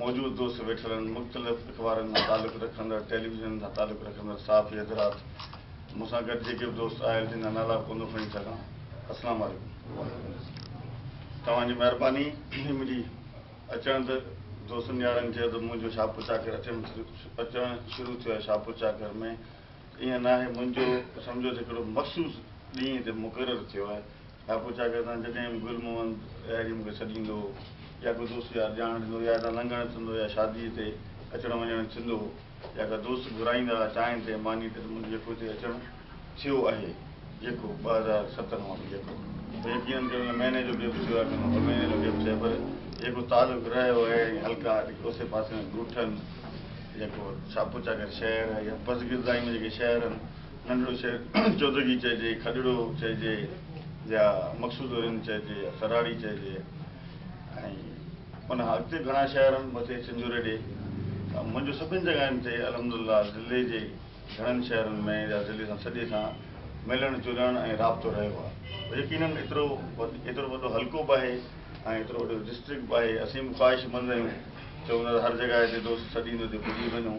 موجود دوست ويٺلن مختلف اخبارن مان تعلق رکندڙ ٽيليويزن سان تعلق رکندڙ صحافي حضرات مون سان گڏ جيڪي به دوست آيل جن جا نالا ڪونه کڻي سگهان اسلام عليڪم توهان جي مهرباني منهنجي اچڻ تي دوستن يارن چيو ته منهنجو شاهپور چاڪر اچڻ اچڻ شروع ٿيو آهي شاهپور چاڪر ۾ ايئن ناهي منهنجو سمجهو ته هڪڙو مخصوص ڏينهن تي مقرر ٿيو آهي ها پوء ڇا ڪريسان؟ جڏهن به گل محمد اهڙي مون کي سڏ ايندو هو يا ڪو دوست يار ڄاڻ ڏيندو هو يا هتان لنگهڻ ٿيندو هو يا شاديء تي اچڻ وڃڻ ٿيندو هو يا ڪا دوست گهرائيندا ها چانهه تي مانيء تي ته منهنجو يڪو هتي اچڻ ٿيو آهي يڪو ٻه هزار ستن مان به يڪو ته يقينن ڪريو نه مهيني جو گيپ ٿيو آهي نه ٻه مهيني جو گيپ ٿيو آهي پر يڪو تعلق رهيو آهي ۽ حلقا جيڪي اوسي پاسي ۾ ڳوٺن يڪو ڇا پوء ڇا ڪري شهر يا پزگردائي ۾ جيڪي شهر آهن ننڍڙو شهر چودرگي چئجي، کڏڙو چئجي يا مقصود الرين چئجي يا سراڙي چئجي ۽ ان کان اڳتي گهڻا شهر آهن مٿي چنجوري ڏي ته منهنجو سڀني جڳهين تي الحمدلله ضلعي جي گهڻن شهرن ۾ يا ضلعي سان سڄي سان ملڻ جلڻ ۽ رابطو رهيو آهي يقينن ايترو ايترو وڏو حلقو به آهي ۽ ايترو وڏو ڊسٽرڪٽ به آهي اسين به خواهشمند آهيون چئون ٿا ته هر جڳهه تي دوست سڏيندو ته پڄي وڃون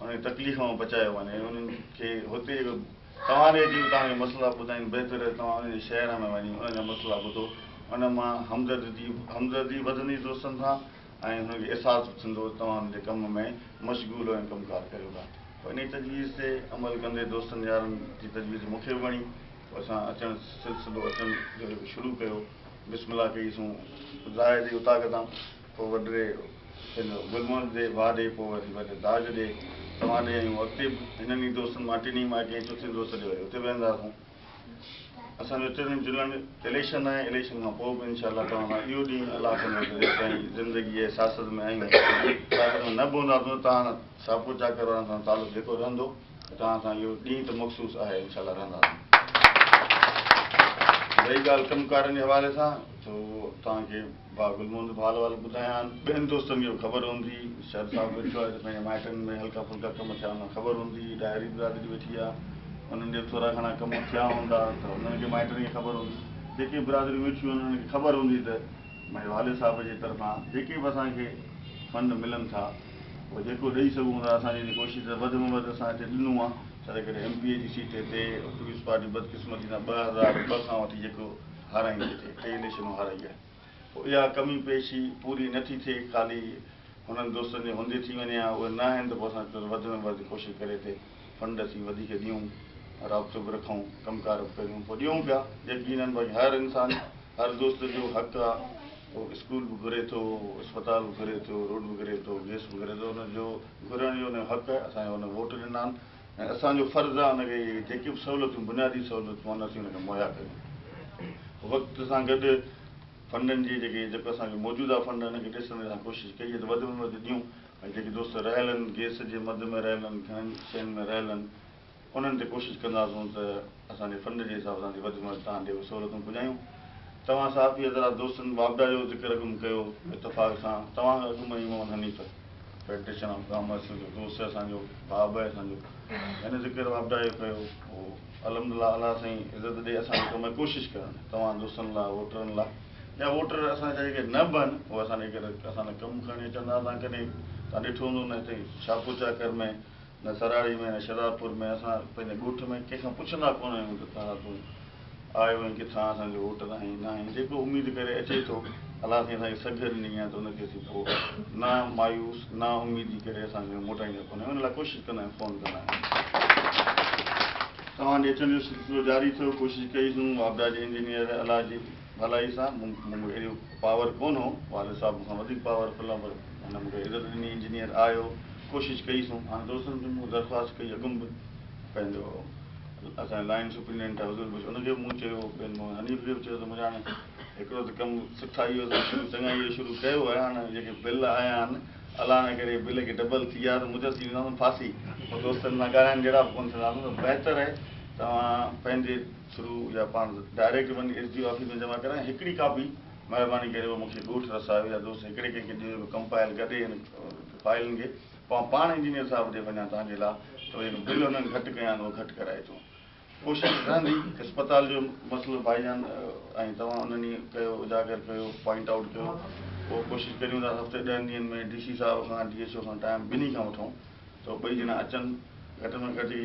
انهن کي تڪليف مان بچايو وڃي ۽ انهن کي هتي توهان ڏي اچي اتان جا مسئلا ٻڌائين، بهتر آهي توهان انهن جي شهر ۾ وڃي انهن جا مسئلا ٻڌو، ان مان همدردي همدردي وڌندي دوستن سان ۽ هنن کي احساس به ٿيندو ته توهان هنن جي ڪم ۾ مشغول ۽ ڪم ڪار ڪريو ٿا. پوء انهيء تجويز تي عمل ڪندي دوستن يارن جي تجويز مون کي به وڻي، پوء اسان اچڻ سلسلو اچڻ جو هڪ شروع ڪيو، بسم الله ڪئي سون راهه تي اطاق تان. پوء وڏڙي هن گلمرگ ڏي، واهه ڏي، پوء وري وڏي داج ڏي، توهان ڏي ۽ اڳتي به هنن ئي دوستن مان ٽنهي مان ڪنهن چوٿين دوست ڏي وري اتي ويهنداسون. اسان جو ٽنهن جلڻ اليڪشن آهي، اليڪشن کان پوء به ان شاء الله توهان سان اهو ڏينهن الله ڪندو ته جيستائين زندگي آهي سياست ۾ آهيون، سياست ۾ نه به هونداسون ته توهان سان شاهپور چاڪر وارن سان تعلق جيڪو رهندو ۽ توهان سان اهو ڏينهن ته مخصوص آهي ان شاء الله رهنداسون. رهي ڳالهه ڪم ڪارن جي حوالي سان ته اهو توهان کي. ڀاء گل محمد ڀال وال ٻڌايان ٻين دوستن کي به خبر هوندي شر صاحب ويٺو آهي ته پنهنجي مائٽن ۾ هلڪا ڦلڪا ڪم ٿيا هوندا خبر هوندي ڏاهري برادري ويٺي آهي انهن جي به ٿورا گهڻا ڪم ٿيا هوندا ته انهن کي مائٽن کي خبر هوندي جيڪي به برادريون ويٺيون آهن انهن کي خبر هوندي ته منهنجي والد صاحب جي طرفان جيڪي به اسان کي فنڊ ملن ٿا اهو جيڪو ڏئي سگهون ٿا اسان جي ڪوشش ته وڌ ۾ وڌ اسان هتي ڏنو آهي ڇا ته ڪڏهن ايم پي اي جي سيٽ هتي پيپلز پارٽي بدقسمتي سان ٻه هزار ٻه کان وٺي جيڪو هارائين ٿي ٿئي، ٽئين نشنو هارائي آهي. پوء اها ڪمي پيشي پوري نه ٿي ٿئي، خالي هنن دوستن جي هوندي ٿي وڃي ها، اهي نه آهن ته پوء اسان چئون ته وڌ ۾ وڌ ڪوشش ڪري ته فنڊ اسين وڌيڪ ڏيون، رابطو به رکون، ڪم ڪار به ڪريون، پوء ڏيون پيا، يقينن باقي هر انسان، هر دوست جو حق آهي، هو اسڪول به گهري ٿو، اسپتال به گهري ٿو، روڊ به گهري ٿو، گيس به گهري ٿو، ان جو گهرڻ جو ان جو حق آهي، اسان کي هن ووٽ ڏنا آهن. ۽ اسان جو فرض آهي ان کي جيڪي به سهولتون بنيادي سهولتون آهن اسين ان کي مهيا ڪريون. وقت سان گڏ فنڊن جي جيڪي جيڪو اسان جو موجوده فنڊ آهن ان کي ڏسڻ جي اسان ڪوشش ڪئي ته وڌ ۾ وڌ ڏيون ۽ جيڪي دوست رهيل آهن گيس جي مد ۾ رهيل آهن گهڻن شين ۾ رهيل آهن انهن تي ڪوشش ڪنداسون ته اسان جي فنڊ جي حساب سان ٿي وڌ ۾ وڌ توهان ڏي اهي سهولتون پڄايون. توهان صحافي حضرات دوستن واپڊا جو ذڪر اڳ م ڪيو هو اتفاق سان توهان کان اڳ م ئي Muhammad Hanif federation of commerce جو دوست اسان جو ڀاء به اسان جو هن ذڪر واپڊا جو ڪيو هو الحمدالله الله سائين عزت ڏي اسان کي ڪم ۾ ڪوشش ڪرڻ توهان دوستن لاء ووٽرن لاء يا ووٽر اسان جا جيڪي نه به آهن اهي اسان جي ڪري اسان لاء ڪم کڻي اچن ٿا توهان ڪڏهن توهان ڏٺو هوندو نه هتي شاهپور چاڪر ۾ نه سراڙي ۾ نه شهدادپور ۾ اسان پنهنجي ڳوٺ ۾ ڪنهن کان پڇندا ڪونه آهيون ته ڪهڙا تون آيو آهين ڪٿان اسان کي ووٽ آهين نه آهين جيڪو اميد ڪري اچي ٿو الله سائين اسان کي سگهه ڏني آهي ته ان کي اسين پوء نا مايوس نا اميدي ڪري اسان ڪنهن کي موٽائيندا ڪونه آهيون ان لاء ڪوشش ڪندا آهيون فون ڪندا آهيون. توهان جي اچڻ جو سلسلو جاري ٿيو ڪوشش ڪئي سون واپڊا جي انجنيئر الله جي ڀلائي سان مون مون کي ايڏو پاور ڪون هو والد صاحب مون کان وڌيڪ پاور فل آهن پر هن مون کي عزت ڏني انجنيئر آهيو ڪوشش ڪئي سون هاڻي دوستن کي مون درخواست ڪئي اڳم به پنهنجو اسان جو لائين سپرينڊنٽ آهي حضور بخش ان کي به مون چيو ٻين مون حنيف کي به چيو ته مون هاڻي هڪڙو ته ڪم سٺائي جو شروع چڱائي جو شروع ڪيو آهي هاڻي جيڪي بل آيا آهن الله نه ڪري بل ڪي ڊبل ٿي ويا ته مجر ٿي وينداسون ڦاسي پوء دوستن سان ڳالهائڻ جهڙا به ڪون ٿينداسون ته بهتر آهي توهان پنهنجي ٿرو يا پاڻ ڊائريڪٽ وڃي ايس ڊي او آفيس ۾ جمع ڪرايان ھڪڙي ڪاپي مھرباني ڪري اھو مون کي ڳوٺ رسايو يا دوست ھڪڙي ڪنھن کي ڏيو جو ڪمپائل ڪري ھن فائلن کي پوء پاڻ انجنيئر صاحب ڏي وڃان تان جي لا ته اھي بل ھنن گھٽ ڪيا آھن اھي گھٽ ڪرائي اچون ڪوشش رھندي. اسپتال جو مسئلو ڀائي جان ۽ توھان انھن ئي ڪيو اجاگر ڪيو پوائنٽ آئوٽ ڪيو اھو ڪوشش ڪريون ٿا ھفتي ڏھن ڏينھن ۾ ڊي سي صاحب کان ڊي ايڇ او کان ٽائيم ٻنھي کان وٺون ته ٻئي ڄڻا اچن گھٽ ۾ گھٽ ھي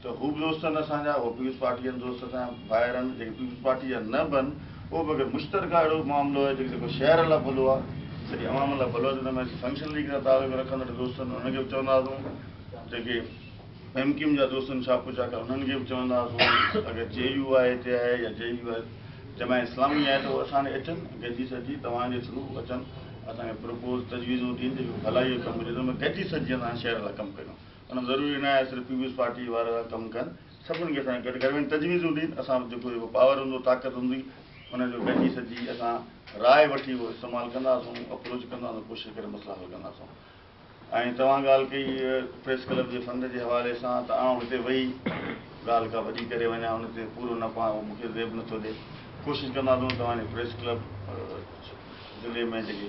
ته هو به دوست آهن اسان جا، هو پيپلز پارٽي جا دوست اسان جا ڀائر آهن، جيڪي پيپلز پارٽي جا نه به آهن، اهو به اگر مشترڪه اهڙو معاملو آهي، جيڪو شهر لاء ڀلو آهي، سڄي عوام لاء ڀلو آهي، ته ان ۾ اسين فنڪشن ليگ سان تعلق رکندڙ دوستن انهن کي به چونداسون، جيڪي ايم ڪيو ايم جا دوست آهن شاهه پور شاهه ڪا انهن کي به چونداسون، اگر جي يو آء هتي آهي يا جي يو آء جماعت اسلامي آهي ته اهو اسان ڏي اچن، گڏجي سڏجي توهان جي ٿرو اچن، اسان کي پروپوز تجويزون ڏين، جيڪي ڀلائي جو ڪم هجي ته ان ۾ گڏجي سڏجي اسان شهر لاء ڪم ڪريون. ان ضروري ناهي صرف پيپلز پارٽي وارا ٿا ڪم ڪن سڀني کي اسان کي گڏ ڪرڻ تجويزون ڏين اسان وٽ جيڪو جيڪو پاور هوندو طاقت هوندي ان جو گڏجي سڏجي اسان راء وٺي اهو استعمال ڪنداسون اپروچ ڪنداسون ڪوشش ڪري مسئلا حل ڪنداسون ۽ توهان ڳالهه ڪئي پريس ڪلب جي فنڊ جي حوالي سان ته آئون هتي وئي ڳالهه ڪا وڏي ڪري وڃان ان تي پورو نه پوان اهو مون کي زيب نٿو ڏي ڪوشش ڪنداسون توهان جي پريس ڪلب ضلعي ۾ جيڪي